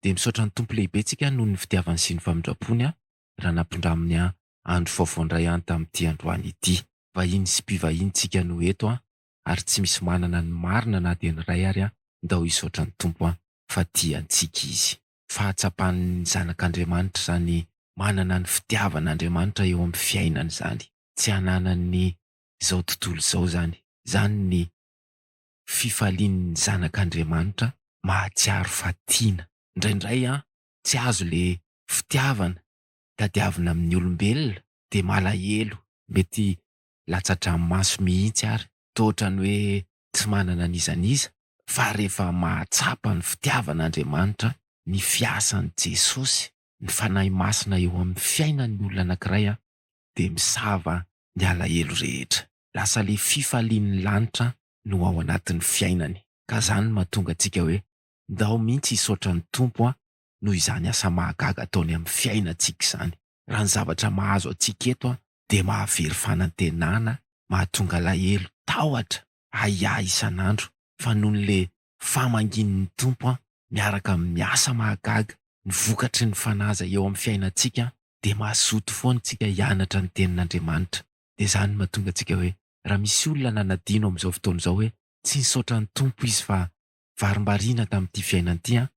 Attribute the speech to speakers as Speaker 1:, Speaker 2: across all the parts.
Speaker 1: dia misaotra ny Tompo lehibe tsika noho ny fitiavany sy ny famindrampony aho raha nampindraminy ahy andro vaovao indray any tamin'ity androany ity. Vahiny sy mpivahiny tsika no eto an, ary tsy misy manana ny marina na dia ny iray ary an, ndao hisaotra ny Tompo an, fa tia antsika Izy. Fahatsapan'ny zanak'Andriamanitra izany manana ny fitiavan'Andriamanitra eo amin'ny fiainany izany, tsy ananan'ny izao tontolo izao izany, izany ny. fifalian'ny zanak'Andriamanitra mahatsiaro fa tiana. Indraindray an, tsy azo le fitiavana tadiavina amin'ny olombelona de malahelo, mety latsa-dranomaso mihitsy ary toa otrany hoe tsy manana n'iza n'iza, fa rehefa mahatsapa ny fitiavan'Andriamanitra, ny fiasan'i Jesosy, ny Fanahy Masina eo amin'ny fiainan'ny olona anakiray an, dia misava ny alahelo rehetra. Lasa le fifalian'ny lanitra no ao anatin'ny fiainany. Ka zany no mahatonga antsika hoe ndao mintsy hisaotra ny Tompo an noho izany asa mahagaga ataony amin'ny fiainantsika izany. Raha ny zavatra mahazo antsika eto an dia mahavery fanantenana, mahatonga alahelo, tahotra, ahiahy isan'andro fa noho ny le fa manginin'ny Tompo an, miaraka amin'ny miasa mahagaga, ny vokatry ny fanaza eo amin'ny fiainantsika dia mazoto foana isika hianatra ny tenin'Andriamanitra. Dia izany no mahatonga antsika hoe raha misy olona nanadino amin'izao fotoana izao hoe tsy nisaotra ny Tompo izy fa varimbariana tamin'ity fiainana ity an,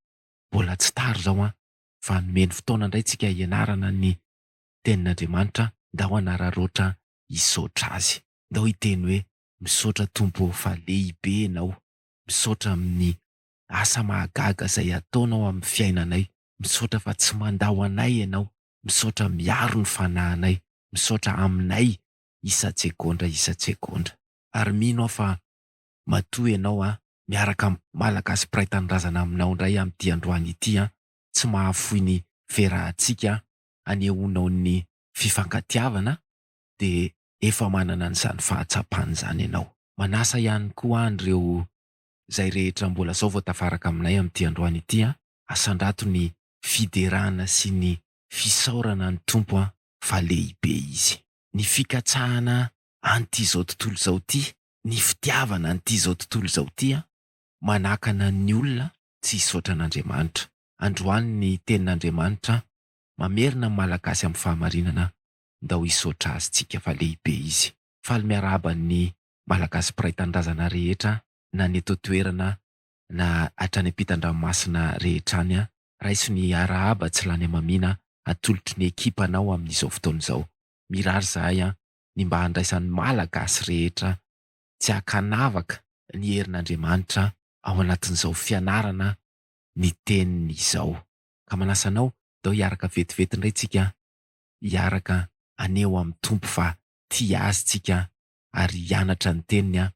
Speaker 1: mbola tsy tara izao an, fa nomeny fotoana indray tsika hianarana ny tenin'Andriamanitra, ndao hanararaotra hisaotra Azy. Ndao hiteny hoe, Misaotra Tompo ô fa lehibe Ianao. Misaotra amin'ny asa mahagaga izay ataonao amin'ny fiainanay. Misaotra fa tsy mandà ho anay Ianao. Misaotra miaro ny fanahinay. Misaotra aminay isan-tsegondra isan-tsegondra. Ary mino aho fa matoa Ianao an, miaraka amin'ny Malagasy mpiray tanindrazana aminao indray amin'ity androany ity an, tsy mahafoy ny firahantsika an, anehoanao ny fifankatiavana dia efa manana an'izany fahatsapana izany ianao. Manasa ihany koa ahy an'ireo izay rehetra mbola izao vao tafaraka aminay amin'ity androany ity an, asandrato ny fiderana sy ny fisaorana ny Tompo an, fa lehibe Izy. Ny fikatsahana an'ity izao tontolo izao ity, ny fitiavana an'ity izao tontolo izao ity an, manakana ny olona tsy hisaotra an'Andriamanitra. Androany ny tenin'Andriamanitra an, mamerina ny Malagasy amin'ny fahamarinana ndao hisaotra azy tsika fa lehibe izy. Faly miarahaba ny Malagasy mpiray tanindrazana rehetra na ny eto an-toerana na hatrany ampitan-dranomasina rehetra any an! Raiso ny arahaba tsy lany hamamiana atolotry ny ekipanao amin'izao fotoana izao. Mirary izahay an! ny mba handraisan'ny Malagasy rehetra tsy an-kanavaka ny herin'Andriamanitra ao anatin'izao fianarana ny teniny izao. Ka manasa anao ndao hiaraka vetivety indray tsika hiaraka haneho amin'ny Tompo fa tia Azy tsika ary hianatra ny Teniny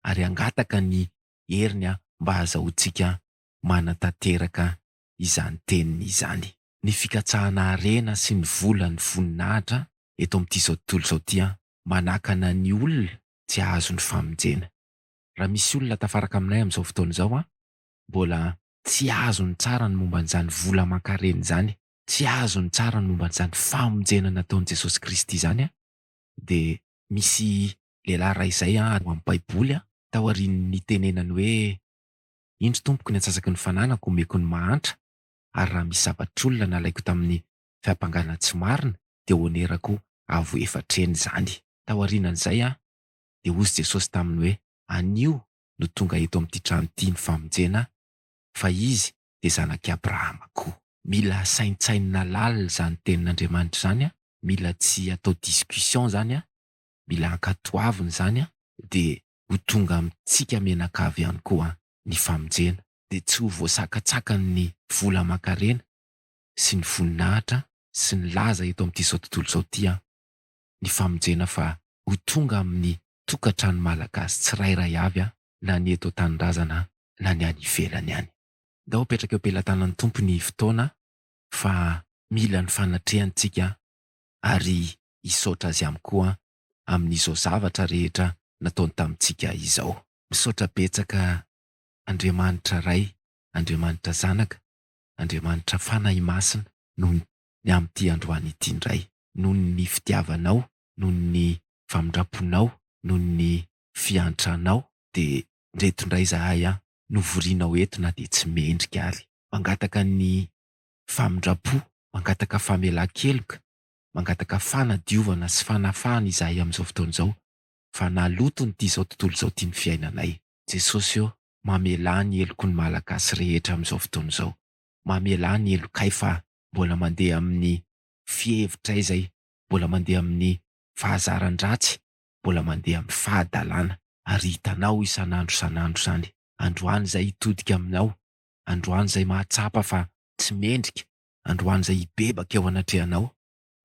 Speaker 1: ary hangataka ny heriny mba hahazahoantsika manatanteraka izany Teniny izany. Ny fikatsahana harena sy ny vola ny voninahitra eto amin'ity izao tontolo izao ity manakana ny olona tsy hahazo ny famonjena. Raha misy olona tafaraka aminay amin'izao fotoana izao mbola tsy azo ny tsara ny momba an'izany vola aman-karena izany tsy azo ny tsara ny momba an'izany famonjena nataon'i Jesosy Kristy izany an, dia misy lehilahy iray izay an ao amin'ny baiboly an, taorian'ny nitenenany hoe, indro tompoko ny antsasaky ny fananako omeko ny mahantra, ary raha misy zavatr'olona nalaiko tamin'ny fiampangana tsy marina dia honerako avo efatra heny izany. Taorianan'izay an, dia hozy Jesosy taminy hoe, anio no tonga eto amin'ity trano ity ny famonjena, fa izy dia zanak'i Abrahama koa. Mila saintsainina lalina izany tenin'Andriamanitra izany an, mila tsy atao discussion izany an, mila ankatoavina izany an, dia ho tonga amintsika mianakavy ihany koa ny famonjena, dia tsy ho voasakantsakany vola aman-karena sy ny voninahitra sy ny laza eto amin'itizao tontolo izao ity an, ny famonjena fa ho tonga amin'ny tokantrano malagasy tsirairay avy an, na ny eto an-tanindrazana na ny any ivelany any. Ndao apetraka eo am-pelatanan'ny Tompo ny fotoana fa mila ny fanatrehany tsika ary hisaotra Azy am koa amin'izao zavatra rehetra nataony tamintsika izao. Misaotra betsaka Andriamanitra Ray, Andriamanitra Zanaka, Andriamanitra Fanahy Masina noho ny amin'ity androany ity ndray, noho ny fitiavanao, noho ny famindramponao, noho ny fiantranao dia ndreto ndray zahay an! Novorianao eto na dia tsy mendrika ary. Mangataka ny famindram-po, mangataka famelan-keloka, mangataka fanadiovana sy fanafahana izahay amin'izao fotoana izao fa naloto ny ti'izao tontolo izao tian'ny fiainanay. Jesosy ô, mamelà ny heloko ny Malagasy rehetra amin'izao fotoana izao. Mamelà ny helokay fa mbola mandeha amin'ny fihevitray izay, mbola mandeha amin'ny fahazaran-dratsy, mbola mandeha amin'ny fahadalana. Ary hitanao isan'andro isan'andro izany, androany izay hitodika aminao, androany izay mahatsapa fa tsy mendrika, androany izay hibebaka eo anatrehanao,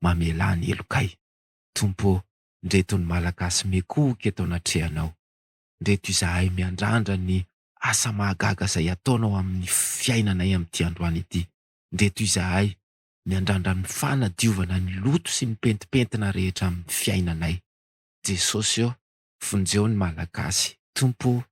Speaker 1: mamelà ny helokay. Tompo ô, ndreto ny Malagasy miekohoka eto anatrehanao. Ndreto izahay miandrandra ny asa mahagaga izay ataonao amin'ny fiainanay amin'ity androany ity. Ndreto izahay miandrandra ny fanadiovana ny loto sy ny pentimpentina rehetra amin'ny fiainanay. Jesosy ô, vonjeo ny Malagasy. Tompo ô,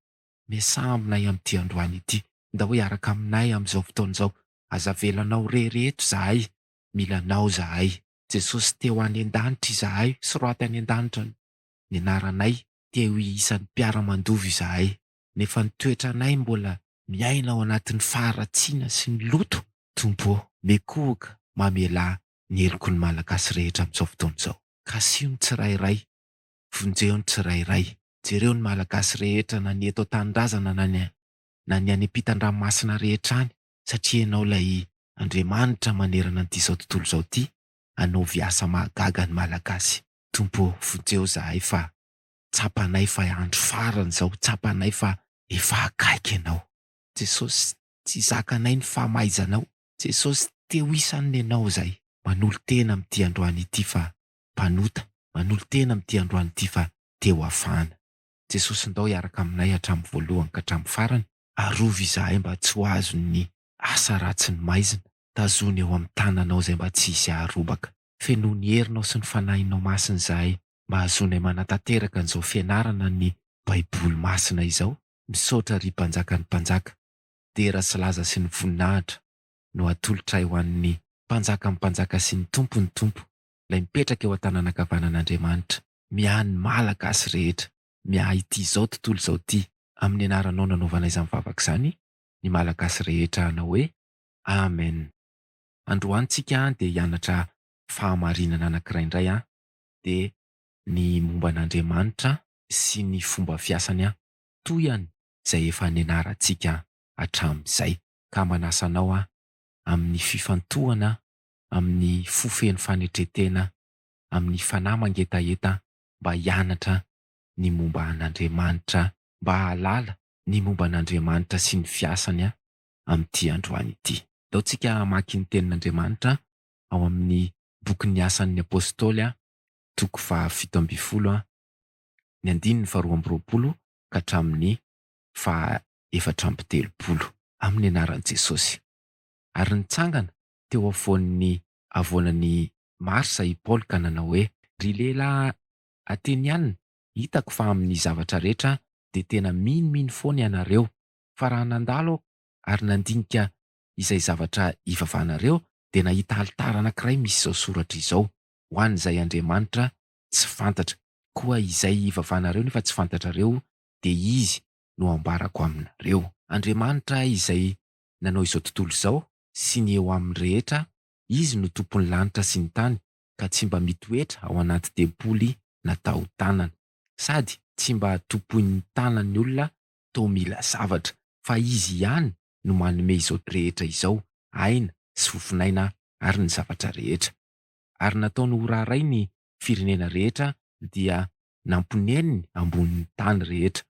Speaker 1: miasà aminay amin'ity androany ity. Ndao hiaraka aminay amin'izao fotoana izao. Aza avela anao irery eto izahay. Mila anao izahay. Jesosy te-ho any an-danitra izahay. Soraty any an-danitra ny anaranay. Te-ho iisan'ny mpiara-mandova izahay. nefa ny toetranay mbola miaina ao anatin'ny faharatsiana sy ny loto, Tompo ô! Mekohoka, mamelà ny heloky ny Malagasy rehetra amin'izao fotoana izao. Kasiho ny tsirairay, vonjeho ny tsirairay. Jereo ny Malagasy rehetra na ny eto an-tanindrazana na ny na ny any am-pitan-dranomasina rehetra any satria Ianao ilay Andriamanitra manerana an'ity izao tontolo izao ity, anaovy asa mahagaga ny Malagasy. Tompo ô! Vonjeho izahay fa Tsapanay fa andro farany izao, tsapanay fa efa akaiky Ianao. Jesosy, tsy zakanay ny famaizanao. Jesosy, te ho isan'ny nenao izahay. Manolo-tena amin'ity androany ity fa mpanota, manolo-tena amin'ity androany ity fa te ho afahana. Jesosy, ndao hiaraka aminay hatramin'ny voalohany ka hatramin'ny farany, arovy izahay mba tsy ho azon'ny asa ratsy ny maizina, tazono eo amin'ny tananao izay mba tsy hisy haharobaka. Fenoy ny herinao sy ny Fanahinao Masina izahay, mba hahazoanay manatanteraka an'izao fianarana ny baiboly masina izao, misaotra ry mpanjakan'ny mpanjaka, dera sy laza sy ny voninahitra no atolotray ho an'ny mpanjakan'ny mpanjaka sy ny tompon'ny tompo, ilay mipetraka eo an-tananankavanan'Andriamanitra. Miahy ny Malagasy rehetra, miahy ity izao tontolo izao ity, amin'ny anaranao nanaovana izany vavaka izany ny Malagasy rehetra hanao hoe, Amen. Androany tsika an dia hianatra fahamarinana anakiray indray an, dia ny momba an'Andriamanitra sy ny fomba fiasany aho, toa ihany izay efa nianarantsika hatramin'izay. Ka manasa anao aho, amin'ny fifantohana, amin'ny fo feno fanetren-tena, amin'ny fanahy mangetaheta, mba hianatra ny momba an'Andriamanitra, mba hahalala ny momba an'Andriamanitra sy ny fiasany amin'ity androany ity. Ataontsika hamaky ny Tenin'Andriamanitra ao amin'ny bokin'ny Asan'ny Apôstôly, toko fahafito ambin'ny folo, ny andininy faharoa amby roapolo ka hatramin'ny fahaefatra amby telopolo. Amin'ny anaran'i Jesôsy. Ary nitsangana teo afovoan'ny havoanan'i Marsa i Paoly ka nanao hoe, Ry lehilahy Ateniana, hitako fa amin'ny zavatra rehetra dia tena minomino foana ianareo, fa raha nandalo aho ary nandinika izay zavatra ivavahanareo dia nahita alitara anankiray misy izao soratra izao, Ho an'izay Andriamanitra tsy fantatra. Koa izay ivavahanareo nefa tsy fantatrareo dia izy no hambarako aminareo. Andriamanitra izay nanao izao tontolo izao sy ny eo aminy rehetra, Izy no Tompon'ny lanitra sy ny tany ka tsy mba mitoetra ao anaty tempoly natao tanana, sady tsy mba tompoin'ny tanan'ny olona toa mila zavatra, fa Izy ihany no manome izao drehetra izao, aina sy fofonaina ary ny zavatra rehetra. Ary nataony ho raharay ny firenena rehetra dia namponeniny ambony ny tany rehetra,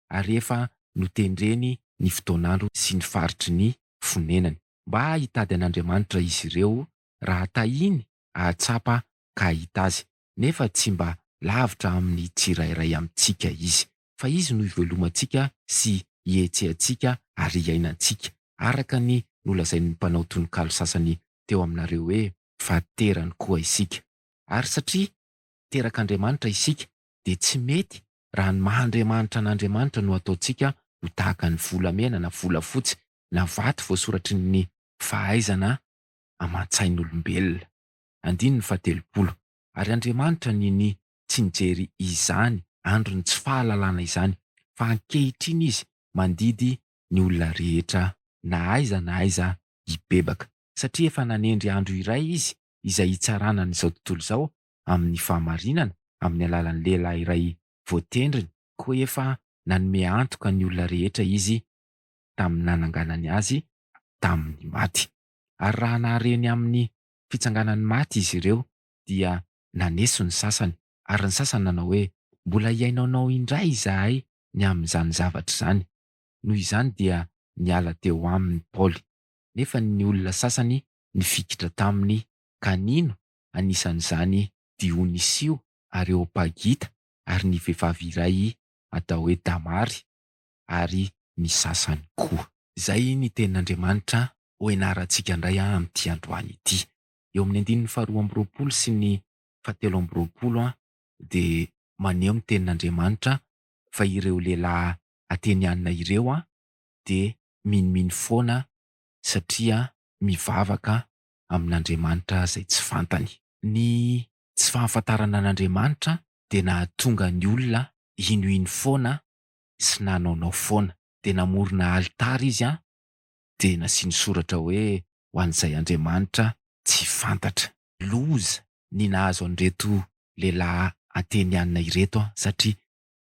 Speaker 1: ary efa notendreny ny fotoan'andro sy ny faritry ny fonenany. Mba hitady an'Andriamanitra izy ireo raha tahiny ahatsapa ka hahita azy, nefa tsy mba lavitra amin'ny tsirairay amintsika Izy, fa Izy no ivelomantsika sy ihetsehantsika ary iainantsika, araka ny nolazain'ny mpanao tononkalo sasany teo aminareo hoe, Fa terany koa isika. Ary satria terak'Andriamanitra isika, dia tsy mety raha ny maha Andriamanitra an'Andriamanitra no ataontsika ho tahaka ny volamena na volafotsy na vato voasoratry ny fahaizana aman-tsain'olombelona. andininy fahatelopolo. Ary Andriamanitra ninia tsy nijery izany andron'ny tsy fahalalana izany, fa ankehitriny Izy mandidy ny olona rehetra na aiza na aiza hibebaka, satria efa nanendry andro iray Izy izay hitsarana an'izao tontolo izao amin'ny fahamarinana amin'ny alalan'ny lehilahy iray voatendriny, koa efa nanome antoka ny olona rehetra Izy tamin'ny nananganany azy tamin'ny maty. Ary raha nahare ny amin'ny fitsanganan'ny maty izy ireo, dia naneso ny sasany, ary ny sasany nanao hoe, Mbola hihainoanao indray izahay ny amin'izany zavatra izany. Noho izany dia niala teo aminy Paoly. Nefa ny olona sasany nifikitra taminy, ka nino, anisan'izany Dionisio Areopagita ary ny vehivavy iray atao hoe Damary. ary ny sasany koa. Izay ny tenin'Andriamanitra ho ianarantsika indray amin'ity androany ity. Eo amin'ny andininy faharoa amby roapolo sy ny fahatelo amby roapolo dia maneho ny tenin'Andriamanitra fa ireo lehilahy Ateniana ireo dia minomino foana satria mivavaka amin'Andriamanitra izay tsy fantany. Ny tsy fahafantarana an'Andriamanitra dia nahatonga ny olona hinohino foana sy nanaonao foana. Dia namorona alitara izy an, dia nasiany soratra hoe ho an'izay Andriamanitra tsy fantatra. Loza ny nahazo an'ireto lehilahy Ateniana ireto an, satria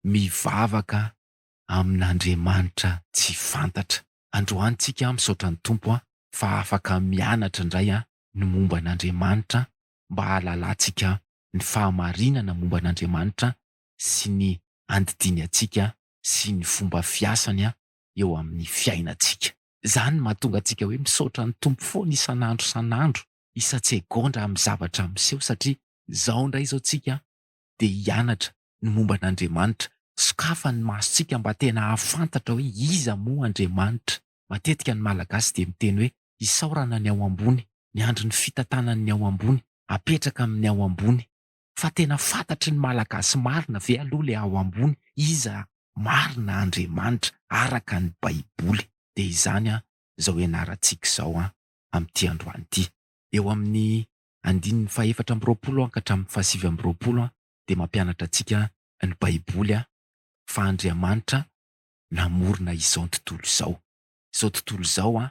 Speaker 1: mivavaka amin'Andriamanitra tsy fantatra. Androany tsika an misaotra ny Tompo an, fa afaka mianatra indray an ny momba an'Andriamanitra an, mba hahalalantsika ny fahamarinana momba an'Andriamanitra sy ny andidiany antsika sy ny fomba fiasany eo amin'ny fiainantsika. Izany mahatonga antsika hoe misaotra ny Tompo foana isan'andro isan'andro, isan-tsegondra amin'ny zavatra miseho satria izao indray izao tsika dia hianatra ny momba an'Andriamanitra, sokafany ny masontsika mba tena hahafantatra hoe iza moa Andriamanitra. Matetika ny Malagasy dia miteny hoe isaorana ny ao ambony, miandry ny fitantanan'ny ao ambony, apetraka amin'ny ao ambony. fa tena fantatry ny Malagasy marina ve aloha ilay ao ambony, iza marina Andriamanitra araka ny baiboly? Dia izany an izao ianarantsika izao an amin'ity androany ity. Eo amin'ny andininy fahefatra amby roapolo an ka hatramin'ny fahasivy amby roapolo an dia mampianatra antsika ny baiboly an fa Andriamanitra namorona izao tontolo izao. Izao tontolo izao an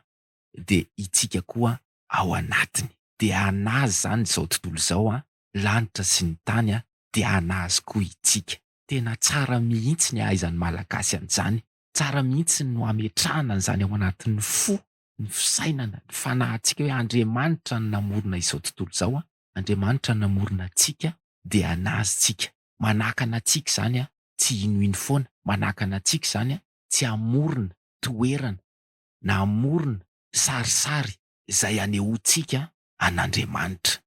Speaker 1: dia itsika koa ao anatiny. Dia anazy izany izao tontolo izao an lanitra sy ny tany a dia anazy koa itsika. Tena tsara mihitsy ny ahaizan'ny malagasy an'izany, tsara mihitsy no ametrahana an'izany ao anatin'ny fo, ny fisainana, ny fanahintsika hoe Andriamanitra no namorona izao tontolo izao a, Andriamanitra no namorona antsika dia anazy tsika, manakana antsika izany a tsy hinohino foana, manakana antsika izany a tsy hamorona toerana na hamorona sarisary izay hanehoantsika an'Andriamanitra.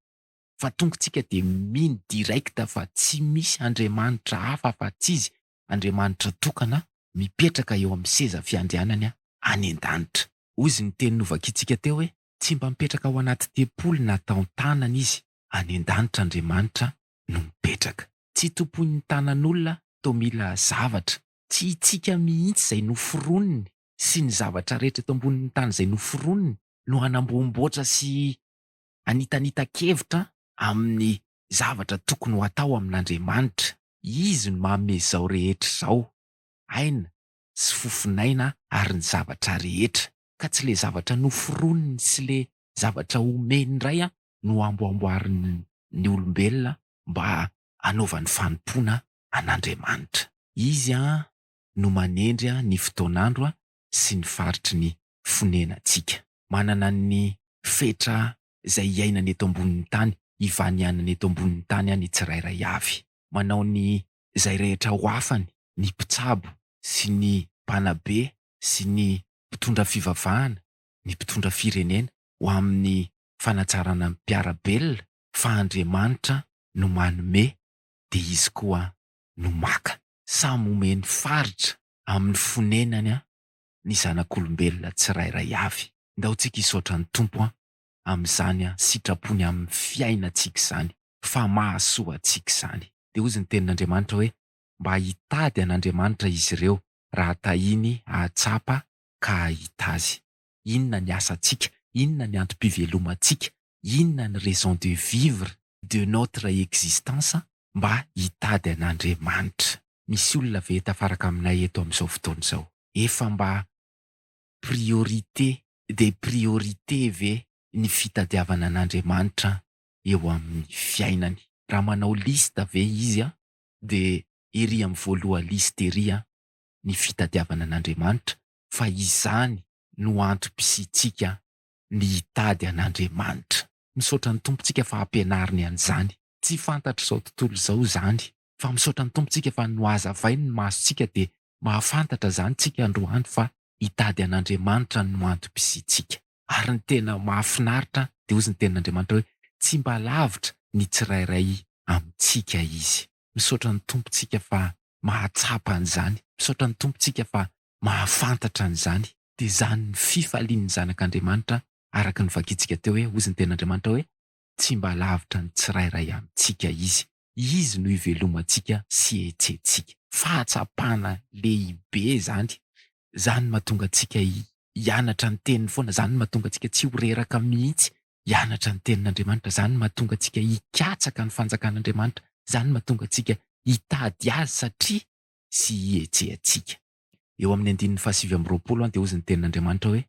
Speaker 1: fa tongotsika dia mino direct fa tsy misy Andriamanitra hafa afa tsy izy, Andriamanitra tokana mipetraka eo amin'ny seza fiandrianany any an-danitra. Hoy izy ny teny novakintsika teo hoe tsy mba mipetraka ao anaty tempoly na tao an-tanana izy, any an-danitra Andriamanitra no mipetraka. Tsy tompoin'ny tanan'olona toa mila zavatra. Tsy itsika mihitsy izay noforoniny sy ny zavatra rehetra eto ambonin'ny tany izay noforoniny no hanamboamboatra sy Hanitanitan-kevitra amin'ny zavatra tokony ho atao amin'Andriamanitra. Izy no manome izao rehetra izao, aina sy fofon'aina ary ny zavatra rehetra. Ka tsy ilay zavatra noforoniny sy ilay zavatra omeny indray no hamboamboarin'ny olombelona mba hanaovany fanompoana an'Andriamanitra. Izy no manendry ny fotoan'andro sy ny faritry ny fonenantsika. Manana ny fetra izay iainany eto ambonin'ny tany, ivanianany eto ambonin'ny tany ny tsirairay avy. Manao ny izay rehetra ho afany ny mpitsabo sy ny mpanabe sy ny mpitondra fivavahana, ny mpitondra firenena ho amin'ny fanatsarana ny mpiara-belona fa Andriamanitra no manome dia Izy koa no maka. Samy omeny faritra amin'ny fonenany ny zanak'olombelona tsirairay avy. Ndao tsika hisaotra ny Tompo amin'izany sitrapony amin'ny fiainantsika izany, fa mahasoa antsika izany. Dia hozy ny tenin'Andriamanitra hoe, Mba hitady an'Andriamanitra izy ireo, raha tahiny hahatsapa ka hahita Azy. Inona ny asantsika? Inona ny antom-pivelomantsika? inona ny raison de vivre de notre existence mba hitady an'Andriamanitra. Misy olona ve tafaraka aminay eto amin'izao fotoana izao efa mba priorité des priorités ve ny fitadiavana an'Andriamanitra eo amin'ny fiainany? Raha manao liste ve izy dia ery amin'ny voaloha liste ery ny fitadiavana an'Andriamanitra fa izany no antom-pisiantsika ny hitady an'Andriamanitra. Misaotra ny Tompo tsika fa ampianariny an'izany. Tsy fantatr'izao tontolo izao izany, fa misaotra ny Tompo tsika fa nohazavainy ny maso tsika dia mahafantatra izany tsika androany fa hitady an'Andriamanitra no antom-pisiantsika. Ary ny tena mahafinaritra dia hozy ny tenin'Andriamanitra hoe tsy mba lavitra ny tsirairay amintsika Izy. Misaotra ny Tompontsika fa mahatsapa an'izany. Misaotra ny Tompontsika fa mahafantatra an'izany. Dia izany ny fifalian'ny zanak'Andriamanitra, araka ny vakintsika teo hoe, hozy ny Tenin'Andriamanitra hoe, Tsy mba lavitra ny tsirairay amintsika Izy. Izy no ivelomantsika sy ihetsentsika. Fahatsapana lehibe izany, Zany mahatonga antsika hianatra ny teniny foana, zany mahatonga antsika tsy ho reraka mihitsy hianatra ny tenin'Andriamanitra, zany mahatonga antsika hikatsaka ny fanjakan'Andriamanitra, zany mahatonga antsika hitady Azy satria sy hihetsehantsika. Eo amin'ny andininy fahasivy amby roapolo dia hozy ny tenin'Andriamanitra hoe,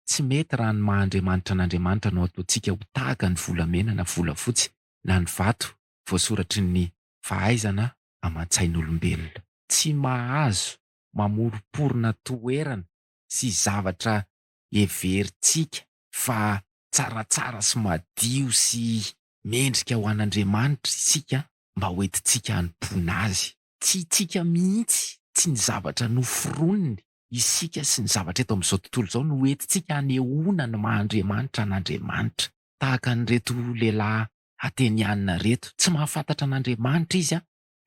Speaker 1: Tsy mety raha ny maha Andriamanitra an'Andriamanitra no ataontsika ho tahaka ny volamena na volafotsy na ny vato voasoratry ny fahaizana aman-tsain'olombelona. Tsy mahazo mamoromporona toerana sy zavatra heverintsika fa tsaratsara sy madio sy mendrika ho an'Andriamanitra isika mba hoentintsika hanompoana Azy. Tsy isika mihitsy, tsy ny zavatra noforoniny, isika sy ny zavatra eto amin'izao tontolo izao no hoentintsika hanehoana ny maha Andriamanitra an'Andriamanitra. Tahaka an'ireto lehilahy Ateniana ireto, tsy mahafantatra an'Andriamanitra izy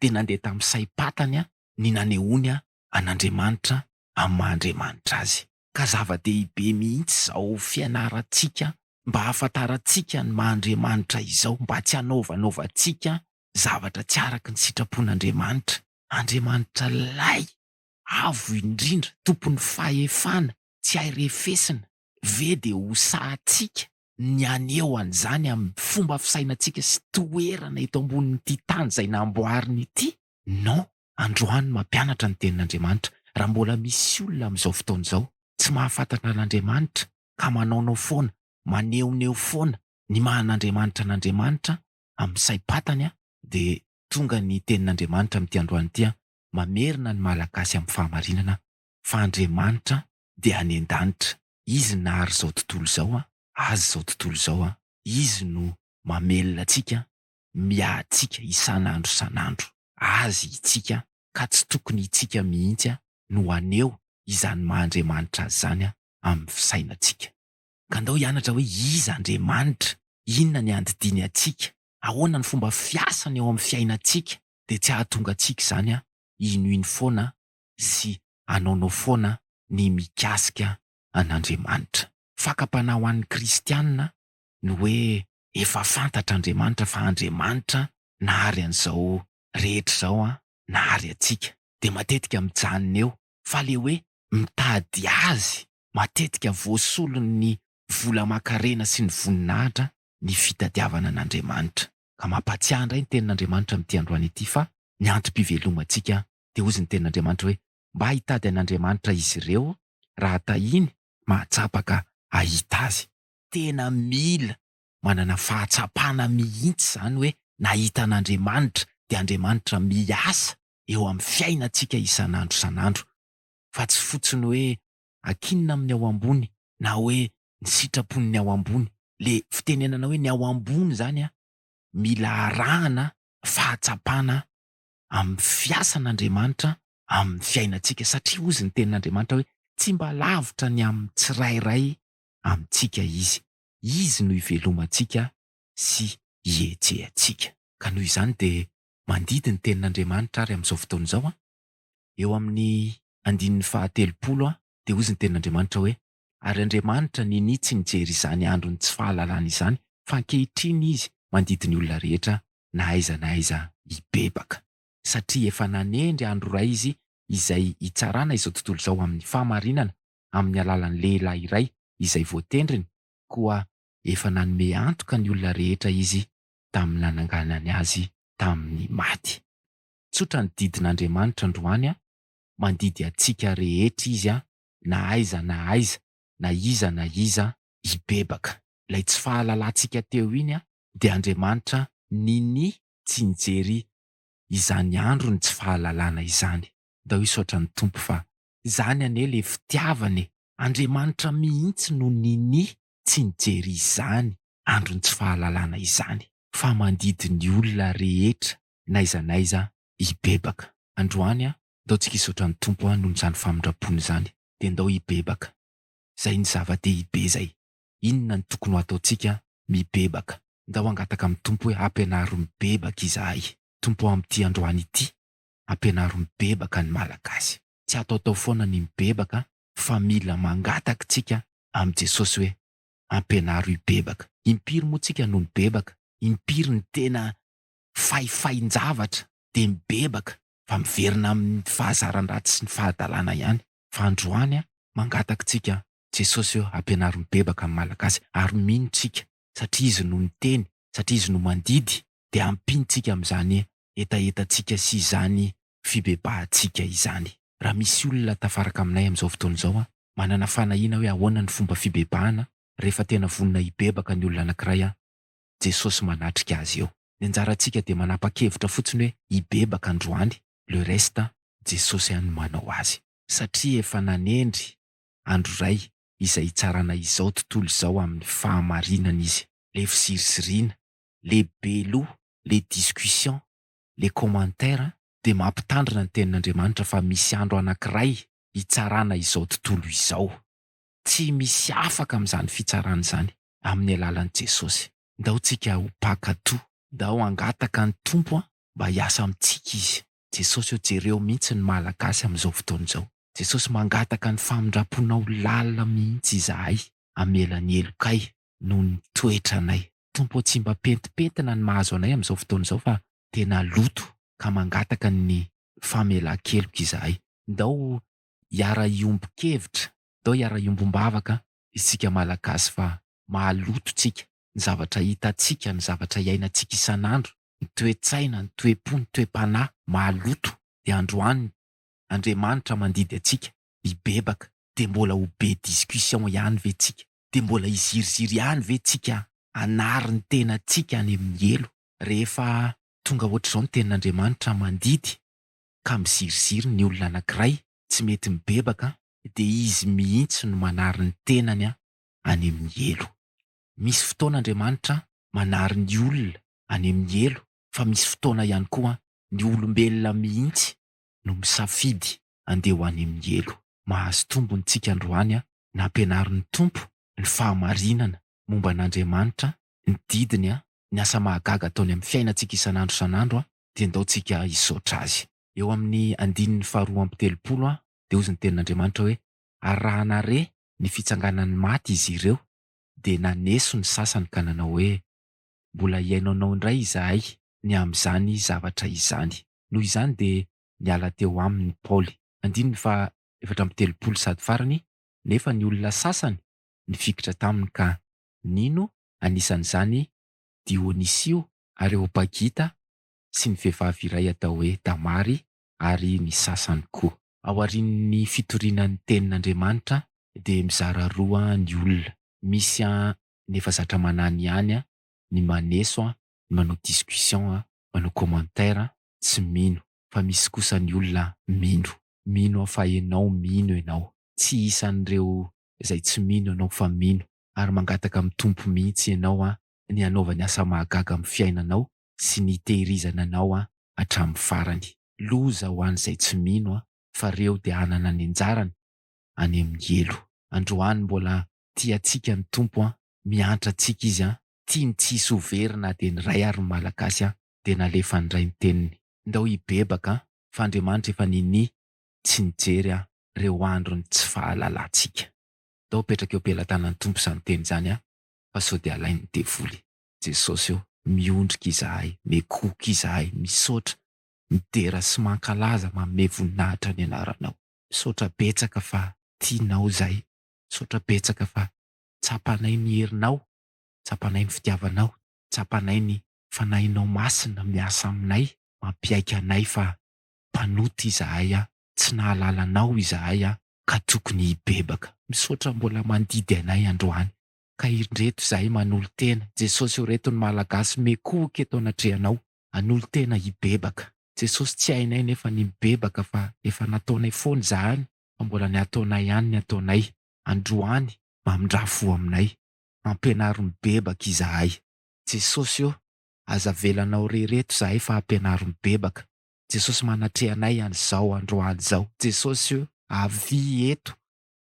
Speaker 1: dia nandeha tamin'ny saim-patany ny nanehoany an'Andriamanitra amin'ny maha Andriamanitra Azy. Ka zava-dehibe mihitsy izao fianarantsika mba hahafantarantsika ny maha Andriamanitra izao mba tsy hanaovanaovantsika zavatra tsy araka ny sitrapon'Andriamanitra, Andriamanitra Lay avo indrindra, Tompon'ny fahefana, tsy hay refesina, ve dia ho sahatsika ny haneho an'izany amin'ny fomba fisainantsika sy toerana eto ambonin'ity tany izay namboariny ity? Non, androany mampianatra ny tenin'Andriamanitra, raha mbola misy olona amin'izao fotoana izao tsy mahafantatra an'Andriamanitra ka manaonao foana, manehoneho foana ny maha an'Andriamanitra an'Andriamanitra amin'ny saim-patany an, dia tonga ny tenin'Andriamanitra amin'ity androany ity an, mamerina ny Malagasy amin'ny fahamarinana fa Andriamanitra dia any an-danitra, Izy nahary izao tontolo izao an, azy izao tontolo izao an, Izy no mamelona antsika miahatsika isan'andro isan'andro Azy itsika ka tsy tokony itsika mihitsy no haneho izany maha Andriamanitra Azy izany amin'ny fisainantsika. Ka andao hianatra hoe iza Andriamanitra, inona ny andidiany antsika, ahoana ny fomba fiasany eo amin'ny fiainantsika dia tsy hahatonga antsika izany hinoino foana sy hanaonao foana ny mikasika an'Andriamanitra. Fakam-panahy ho an'ny kristiana ny hoe Efa fantatr'Andriamanitra fa Andriamanitra nahary an'izao rehetra izao an, nahary antsika. Dia matetika mijanona eo. Fa ilay hoe mitady Azy, matetika voasolon'ny vola aman-karena sy ny voninahitra ny fitadiavana an'Andriamanitra. Ka mampahatsiahy indray ny tenin'Andriamanitra amin'ity androany ity fa ny antom-pivelomantsika. Dia hozy ny tenin'Andriamanitra hoe, Mba hitady an'Andriamanitra izy ireo, raha tahiny, mahatsapa ka hahita Azy. tena mila manana fahatsapana mihitsy izany hoe nahita an'Andriamanitra dia Andriamanitra miasa eo amin'ny fiainantsika isan'andro isan'andro fa tsy fotsiny hoe ankinina amin'ny ao ambony na hoe ny sitrapon'ny ao ambony. Le fitenenana hoe ny ao ambony izany an, mila arahana fahatsapana amin'ny fiasan'Andriamanitra amin'ny fiainantsika satria hozy ny tenin'Andriamanitra hoe tsy mba lavitra ny amin'ny tsirairay amintsika Izy. Izy no ivelomantsika sy ihetsehantsika. Ka noho izany dia mandidy ny Tenin'Andriamanitra ary amin'izao fotoana izao an, eo amin'ny andininy fahatelopolo an, dia hozy ny Tenin'Andriamanitra hoe, Ary Andriamanitra ninia tsy nijery izany andron'ny tsy fahalalana izany, fa ankehitriny Izy mandidy ny olona rehetra na aiza na aiza hibebaka. Satria efa nanendry andro iray Izy izay hitsarana izao tontolo izao amin'ny fahamarinana amin'ny alalan'ny lehilahy iray izay voatendriny, koa efa nanome antoka ny olona rehetra izy tamin'ny nananganany azy tamin'ny maty. Tsotra ny didin'Andriamanitra androany, mandidy antsika rehetra Izy na aiza na aiza, na iza na iza. Hibebaka. Ilay tsy fahalalantsika teo iny dia Andriamanitra nini tsy nijery izany andron'ny tsy fahalalana izany. Ndao hisaotra ny Tompo fa Zany anie le fitiavana e! Andriamanitra mihintsy no nini tsy nijery izany andron'ny tsy fahalalana izany fa mandidy ny olona rehetra n'aiza n'aiza hibebaka. Androany a! ndao tsika hisaotra ny Tompo a noho izany famindrampony izany dia ndao hibebaka. Zay no zava-dehibe zay. Inona no tokony ho ataontsika? Mibebaka. Ndao hangataka amin'ny Tompo hoe ampianaro mibebaka izahay Tompo o amin'ity androany ity. ampianaro mibebaka ny Malagasy. Tsy ataotao foana ny mibebaka fa mila mangataka tsika amin'i Jesosy hoe ampianaro hibebaka. Impiry moa tsika no nibebaka? Impiry ny tena faifain-javatra dia mibebaka fa miverina amin'ny fahazaran-dratsy sy ny fahadalana ihany. Fa androany mangataka tsika Jesosy hoe ampianaro mibebaka ny Malagasy ary mino tsika satria izy no niteny, satria izy no mandidy, dia ampiantsika amin'izany hetahetantsika sy izany fibebahantsika izany. Raha misy olona tafaraka aminay amin'izao fotoana izao manana fanahiana hoe ahoana ny fomba fibebahana rehefa tena vonona hibebaka ny olona anankiray, Jesosy manatrika azy eo. Ny anjarantsika dia manapa-kevitra fotsiny hoe hibebaka androany, le reste Jesosy ihany no manao azy. Satria efa nanendry andro iray izay hitsarana izao tontolo izao amin'ny fahamarinana izy. Le fiziriziriana, le be loha, le discussion, le commentaire dia mampitandrina ny tenin'Andriamanitra fa misy andro anankiray hitsarana izao tontolo izao. Tsy misy afaka amin'izany fitsarana izany amin'ny alalan'i Jesosy. Ndao tsika ho mpankatò. Ndao hangataka ny Tompo mba hiasa amintsika Izy. Jesosy o jereo mihitsy ny Malagasy amin'izao fotoana izao. Jesosy mangataka ny famindramponao lalina mihitsy izahay hamela ny helokay noho ny toetranay Tompo o tsy mba pentimpentina ny mahazo anay amin'izao fotoana izao fa tena loto ka mangataka ny famelankeloka izahay. Ndao hiara hiombon-kevitra, ndao hiara hiombom-bavaka isika Malagasy fa mahaloto tsika. ny zavatra hitantsika, ny zavatra iainantsika isan'andro, ny toe-tsaina, ny toe-po, ny toe-panahy maloto, dia androany ny Andriamanitra mandidy antsika hibebaka, dia mbola ho be discussion ihany ve tsika? Dia mbola hiziriziry ihany ve tsika hanary ny tenantsika any amin'ny helo? Rehefa tonga hoatr'izao ny tenin'Andriamanitra mandidy ka miziriziry ny olona anankiray tsy mety mibebaka dia izy mihitsy no manary ny tenany any amin'ny helo. Misy fotoana Andriamanitra manary ny olona any amin'ny helo fa misy fotoana ihany koa ny olombelona mihitsy no misafidy andeha ho any amin'ny helo. Mahazo tombony tsika androany nampianarin'ny Tompo ny fahamarinana momba an'Andriamanitra, ny didiny, ny asa mahagaga ataony amin'ny fiainantsika isan'andro isan'andro dia ndao tsika hisaotra Azy. Eo amin'ny andininy faharoa amby telopolo dia hozy ny tenin'Andriamanitra hoe, ary raha nahare ny fitsanganan'ny maty izy ireo, dia naneso ny sasany ka nanao hoe, Mbola hihaino anao indray izahay ny amin'izany zavatra izany. Noho izany dia niala teo aminy Paoly. Andininy faha efatra amby telopolo sady farany, Nefa ny olona sasany nifikitra taminy ka nino, anisan'izany Dionisio, Areopagita, sy ny vehivavy iray atao hoe Damary, ary ny sasany koa. Ao aorian'ny fitoriana ny Tenin'Andriamanitra dia mizara roa ny olona, misy ny efa zatra manany ihany, ny maneso, ny manao discussion, manao commentaire, tsy mino, fa misy kosa ny olona mino. Mino aho fa ianao mino ianao. Tsy isan'ireo izay tsy mino ianao fa mino ary mangataka amin'ny Tompo mihitsy ianao ny hanaovany asa mahagaga amin'ny fiainanao sy ny tehirizana anao an hatramin'ny farany. Loza ho an'izay tsy mino an fa reo dia hanana ny anjarany any amin'ny helo. Androany mbola tia antsika ny Tompo an, miantra antsika Izy an, tiany tsy hisy ho very na dia ny iray ary ny Malagasy an dia nalefa nindray ny teniny. Ndao hibebaka an fa Andriamanitra efa ninia tsy nijery an reo andron'ny tsy fahalalantsika. Ndao apetraka eo am-pelatanan'ny Tompo izany teny izany an fa sao dia alain'ny devoly. Jesosy ô, miondrika izahay, mekoka izahay, misaotra, midera sy mankalaza, manome voninahitra ny Anaranao. Misaotra betsaka fa tianao izahay, misaotra betsaka fa tsapanay ny herinao, tsapanay ny fitiavanao, tsapanay ny Fanahinao Masina miasa aminay, mampiaiky anay fa mpanota izahay an, tsy nahalala Anao izahay an, ka tokony hibebaka. Misaotra mbola mandidy anay androany, ka indreto izahay manolo-tena, Jesosy ô reto ny Malagasy mikohoka eto anatrehanao, hanolo-tena hibebaka, Jesosy tsy hainay nefa ny mibebaka fa efa nataonay foana izahany fa mbola ny hataonay ihany ny ataonay, androany mamindrà fo aminay, ampianaro mibebaka izahay, Jesosy ô aza avelanao re reto izahay fa ampianaro mibebaka, Jesosy manatrehanay an'izao androany izao, Jesosy ô avia eto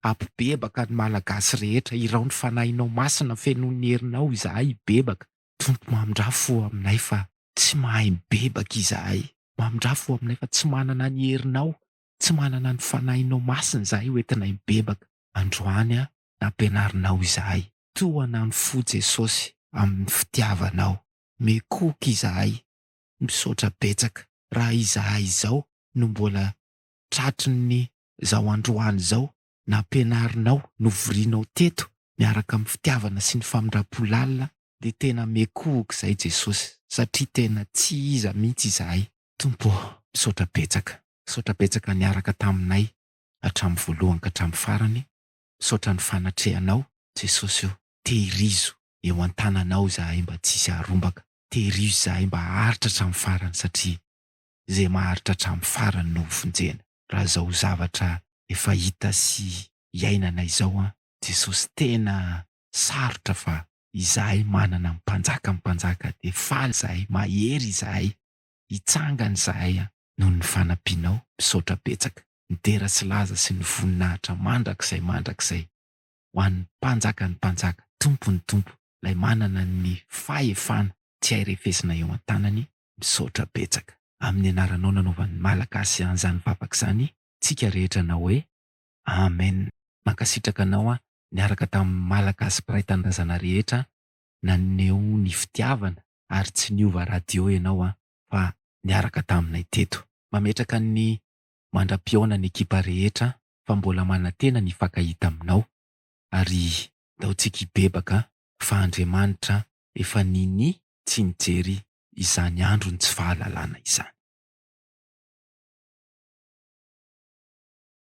Speaker 1: Ampibebaka ny Malagasy rehetra Irao ny Fanahinao Masina Fenoin'ny herinao izahay hibebaka Tompo Mamindrafo aminay fa tsy mahay mibebaka izahay Mamindrafo aminay fa tsy manana ny herinao Tsy manana ny Fanahinao Masina izahay hoentinay mibebaka Androany nampianarinao izahay Tohana ny fo Jesosy amin'ny fitiavanao Mekoky izahay Misaotra betsaka Raha izahay izao no mbola tratrin'ny izao androany izao nampianarinao, novorianao teto miaraka amin'ny fitiavana sy ny famindram-po lalina dia tena miekohoka izay Jesosy satria tena tsy iza mihitsy izahay. Tompo ô, misaotra betsaka, misaotra betsaka niaraka taminay hatramin'ny voalohany ka hatramin'ny farany, misaotra ny fanatrehanao Jesosy ô, tehirizo eo an-tananao izahay mba tsy hisy harombaka, tehirizo izahay mba haharitra hatramin'ny farany satria izay maharitra hatramin'ny farany no hovonjena. raha izao zavatra efa hita sy iainana izao an! Jesosy tena sarotra fa izahay manana ny mpanjaka ny mpanjaka dia faly izahay mahery izahay hitsangana izahay an! Noho ny fanampianao misaotra betsaka midera sy laza sy ny voninahitra mandrakizay mandrakizay ho an'ny mpanjaka ny mpanjaka tompon'ny tompo ilay manana ny fahefana tsy hay refesina eo an-tanany Misaotra betsaka amin'ny anaranao nanaovan'ny Malagasy an'izany vavaka izany tsika rehetra nanao hoe Amen. Mankasitraka anao aho niaraka tamin'ny Malagasy mpiray tanindrazana rehetra naneho ny fitiavana ary tsy niova radio ianao an fa niaraka taminay teto. Mametraka ny mandra-pihaona ny ekipa rehetra fa mbola manantena ny hifankahita aminao ary ndao tsika hibebaka fa Andriamanitra efa nini tsy nijery izany andron'ny tsy fahalalana izany.